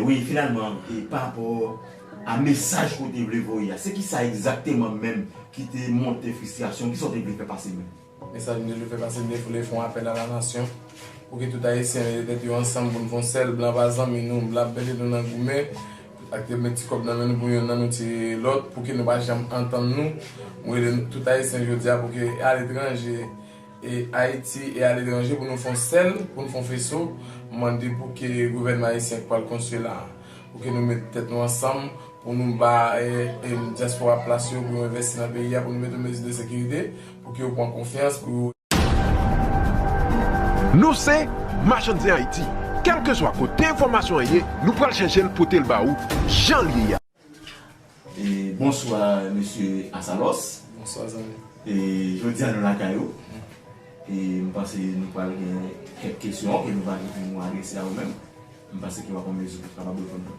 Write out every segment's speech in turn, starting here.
Wi, finalman, e pa rapò a mesaj ke w te vle voye a, se kisa egzakteman menm ki te monte fristrasyon w? Kisa w te vle fè pase menm? Mesaj m toujou fè pase defoule fon apèl a la nasyon pou ke tout ayisyen mete tèt yo ansanm pou n fon sèl blan pa zanmi nou blan ap mete nou nan goumen ak te met ti kòb nan men nou pou youn nan nou tiye lòt pou ke nou pa janm antann nou m rele nou tout ayisyen jodi a pou ke e aletranje e ayiti e aletranje pou nou fon sèl pou n fon feso m mande pou ke gouvènman ayisyen k pral konstwi la pou ke nou mete tèt nou ansanm pou nou ba dyaspora plas yo pou yo envèsti nan peyi a pou nou mete mezi de sekirite. Pou ke yo pran konfyans pou yo. Nou se Machann Zen Ayiti, kèlkeswa kote enfòmasyon an ye, nou pral chèche l pote l ba ou jan l ye a. Bonswa Mesye Asalòs. Bonswa zanmi. Jodi a nou lakay ou. M panse nou pral gen kèk kesyon ke nou va gen pou nou adrese a ou menm. M panse ke w ap an mezi pou kapab reponn nou.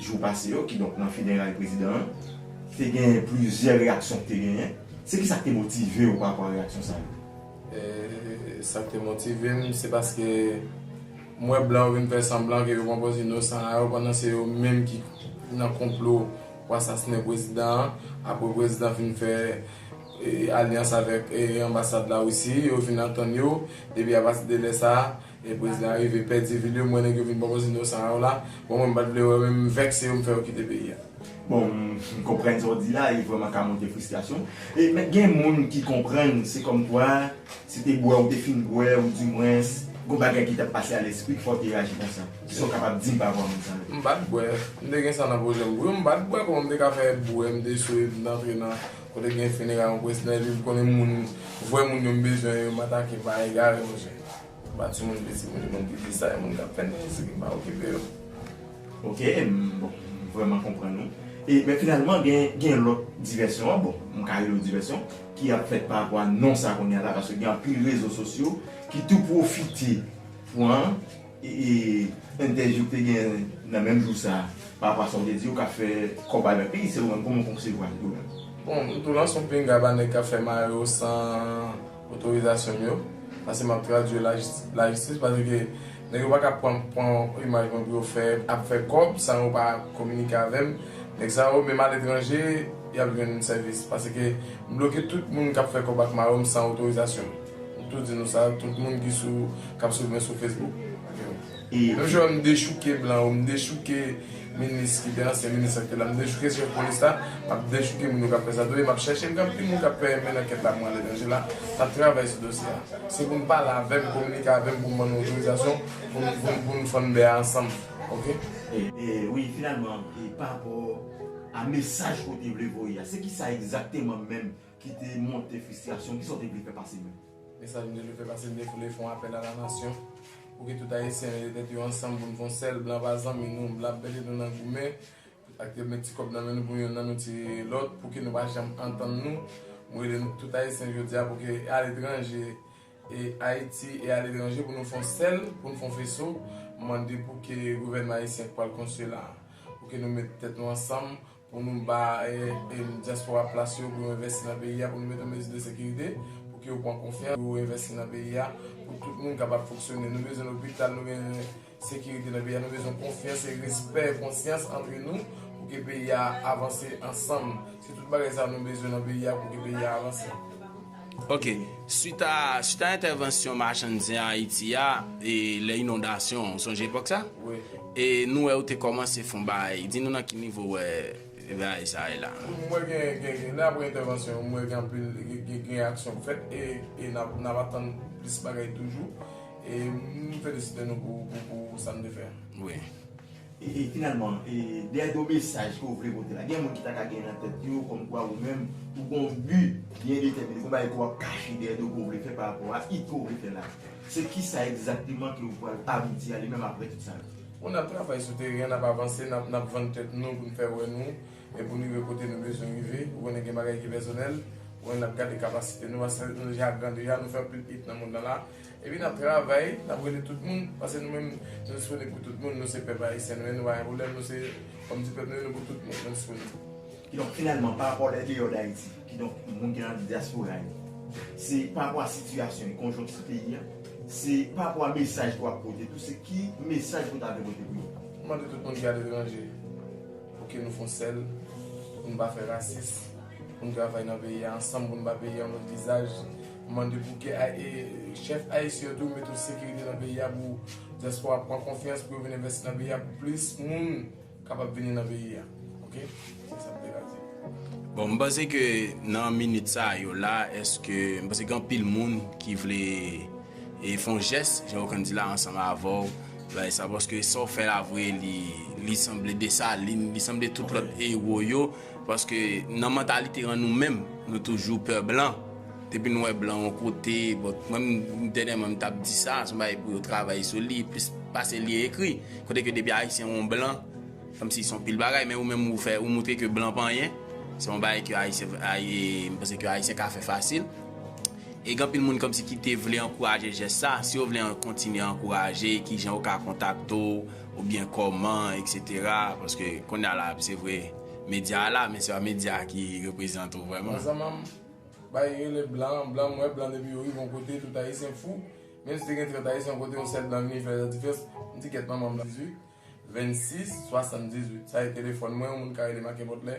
jou pase yo, kidonk nan fineray prezidan an, te genyen plizyè reyaksyon ki te genyen. Se ki sa ki te motive ou parapò a reyaksyon sa yo? Sa ki te motive m, se paske m wè blan yo vin fè sanblan ke yo pran pòz inosan a yo pandan se yo menm ki nan konplo pou asasinen prezidan an. Apre prezidan fin fè alyans avèk anbasad Larisi, yo fin antann yo, epi apatide lè sa a, E bwiz la rive pèdi vil yo m wè nèg yo vin bò koze non sa a w la bon mwen m pat vle wè w men m vèkse yo m fè yo kite peyi a. Bon m konprann sa w di la e vrèman ka monte fristrasyon e men gen moun ki konprann se kòmkwa se te bwè ou te fin bwè ou di mwens gon bagay ki tap pase a lèspri k fè w te reyaji konsa ki sa w kapab di m pa rapò a moun sa yo? M pat bwè, m te gen sa nan pwojè m pou yo m pat bwè kòman m te ka fè bwè m te swe m t antre nan Kote gen finera yon presnè viv konnen moun vrè moun yo m bezwen yo m atake pa egare monchè m pa timoun piti moun moun pipi sa e moun kap fè nèg esegi m pa okipe yo. Ok m bon m vrèman konprann ou e men finalman gen gen lòt divèsyon an bon m ka rele yo divèsyon ki ap fèt pa rapò a non sa kounya la paske gen anpil rezo sosyo ki tou pwofite pwan Entèvyou k te gen nan menm jou sa a parapò a sa ou te di yo ka fè kòb avèk li, se ou menm kòman ou konsevwa l tou menm? Bon, m tou lan s on pinga ba nèg k ap fè mayo san otorizasyon m yo, pase m ap tradui yo lajistis pase ke nèg yo pa ka pran pran imaj mwen pou yo fè ap fè kòb san yo pa kominike avè m. Nèg sa yo menm aletranje y ap jwenn sèvis pase ke m bloke tout moun k ap fè kòb ak mayo m san otorizasyon m. M tou di nou sa, tout moun ki sou kap swiv mwen sou Facebook. Menm jan m dechouke blan yo, m dechouke minis ki te ansyen minis la ki te la, m dechouke chèf polis la, m ap dechouke moun yo kap fè sa tou e m ap chèche gad ki moun kap fè men ankèt la pou mwen ale nan je la, m ap travay sou dosye a. Se pou nou pale avè m, kominike avè m pou m ban nou otorizasyon pou nou fann bè a ansanm ok. Wi finalman, e pa rapò a mesaj ou te vle voye a, se kisa egzakteman menm? Ki te monte fristrasyon. Kisa w te vle fè pase menm? Men sa m te vle fè pase m te vle fè yon apèl a la nasyon pou ke tout Ayisyen mete tèt yo ansanm pou n fè yon sèl blan pa zanmi nou blan ap mete nou nan goumen ak yo met ti kòb nan men nou pou youn nan nou tiye lòt pou ke nou pa janm antann nou m rele nou tout Ayisyen jodi a pou ke aletranje e Ayiti e aletranje pou nou fè yon sèl pou n fè yon feso m mande pou ke gouvènman Ayisyen k pral konstwi la pou ke nou met tèt nou ansanm Pou nou ba dyaspora plas yo pou yo envèsti nan peyi a, pou nou mete mezi de sekirite, pou ke yo pran konfyans, pou yo envèsti nan peyi a, pou tout moun kapab fonksyone. Nou bezwen lopital, nou gen sekirite nan peyi a, nou bezwen konfyans e respè, konsyans antre nou pou ke peyi a avanse ansanm. Se tout bagay sa nou bezwen nan peyi a pou ke peyi a avanse. Ok, swit a entèvansyon machann zen Ayiti a, e lè inondasyon an, ou sonje epòk sa? Wi. E nou wè ou te kòmanse fon bagay, di nou nan ki nivo ou wè bagay sa ye la? M wè gen, gen, lè apre entèvansyon an, m wè gen anpil, gen, gen aksyon k fèt e, e n ap, n ap atann plis bagay toujou. E m felisite nou pou, pou, pou sa n te fè an. Wi. E finalman, dèyè gwo mesaj ke w vle pote la, gen moun ki ta ka gen nan tèt yo kòmkwa ou menm ou gen yon bi byen detèmine, gen yon bagay ke w ap kache dèyè do ke w vle fè pa rapò a it ke w vle fè la. Se kisa egzakteman ke ou pral abouti a li menm apre tout sa yo? Bon, n ap travay sou teren an, n ap avanse, n ap vann tèt nou pou n fè wè nou e pou n rive kote nou bezwen rive. Ou konnen gen bagay ki pèsonèl, ou konnen n ap gade kapasite nou, paske nou deja gran deja, nou fè anpil it nan mond lan la. Epi nap travay, nap rele tout moun, pase nou menm nou disponible pou tout moun, nou se pèp ayisyen, nou NY Roulem, nou se fanm di pèp, nou rele pou tout moun, nou disponible. Ki donk finalman pa rapò lè deyò dayiti, ki donk moun ki nan diaspora yo, se pa rapò a sitiyasyon e konjonkti peyi a, se pa rapò a mesaj ke wap pote tou, se ki mesaj ke w ta vle pote pou yo. M mande tout moun ki aletranje, pou ke nou fon sèl, pou nou pa fè rasis, pou nou travay nan peyi a ansanm, pou nou ba peyi a yon lòt vizaj. M mande pou ke chèf ayisyen tou mete yon sekirite nan peyi a pou diaspora pran konfyans pou yo vin envèsti nan peyi a pou plis moun kapab vini nan peyi a ok se sa m te ka di. Bon m panse ke nan minit sa yo la eske m panse gen anpil moun ki vle e fon jès jan yo konn di la ansanm avè w bay sa paske sa w fè la vre li sanble Dessalines li sanble tout lòt ewo yo. Paske nan mantalite an nou menm, nou toujou pè blan. Depi nou wè blan yon kote, bon, mwen menm dènyèman m t ap di sa, se yon bagay pou yo travay sou li plis pase li ekri. Kote ke depi Ayisyen wè yon blan, kòmsi se yon pil bagay, men ou menm ou fè, ou montre ke blan pa anyen. Se yon bagay ke Ayisyen, m panse ke Ayisyen ka fè fasil. E gen anpil moun kòmsi ki te vle ankouraje jès sa. Si yo vle kontinye ankouraje, kijan yo ka kontakte w? Ou byen koman etc. Paske konnya la se vre media la men se pa media ki reprezante ou vreman. Nan zanmanm bay rele blan blan m wè blan depi yo rive yon kote tout ayisyen fou menm si te gen 30 ayisyen yon kote yon sèl blan vini fè latifyans m di kèt manmanm nan. 18 26 78 sa e telefòn mwen yon moun ka relem a kenpòt lè.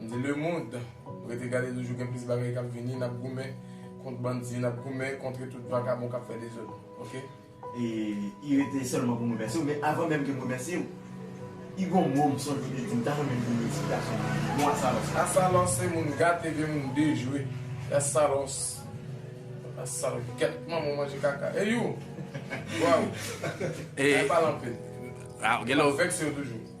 M di le mond rete gade toujou gen plis bagay kap vini nap goumen kont bandi nap goumen kontre tout vakabon kap fè dezod ok. I rete sèlman pou m remèsye w men avan menm ke m remèsye w I gon mo m sonje w te di m ta renmen m di yon eksplikasyon pou li mo asalòs la. Asalòs se moun gate ebyen moun dejwe se asalòs asalgèt manman w manje kaka e you waw bay pale anpil map vekse w toujou.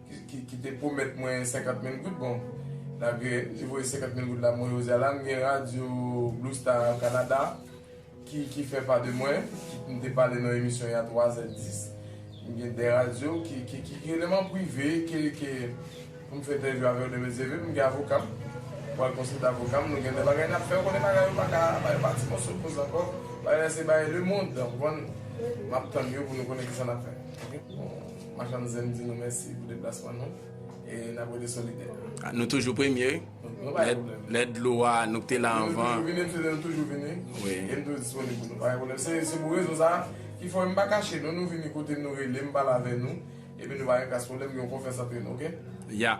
ki te pwomèt mwen 50 mil goud bon malgre li voye 50 mil goud la mwen oze al la m gen radyo Blue Star au Canada ki fè pa de mwen m te pale nan emisyon y a 3 zè 10 m gen 2 radyo ki rele m an prive ke pou m fè entèvyou avè yo demen zeve m gen avoka m pou al konsilte avoka m nou gen de bagay n ap fè ou konnen bagay yo pa ka bay yo pa ti moso koz ankò bagay la se bay lemond ou konprann m ap tann yo pou nou konnen kisa n ap fè. Machann Zen di nou mèsi pou deplasman nou e n ap rete solidè. Nou toujou premye. Nou pa gen pwoblèm. Lè dlo a, nou ki te la anvan. Nou toujou vini, m se te nou toujou vini. Wi. E m toujou disponib pou nou. Pa gen pwoblèm. Se pou rezon sa a ki fè m pa kache nou. Nou vini kote m, nou rele m, m pale avè nou. Epi nou pa gen kras pwoblèm, gen yon konfyans antre nou. Ok? Ya.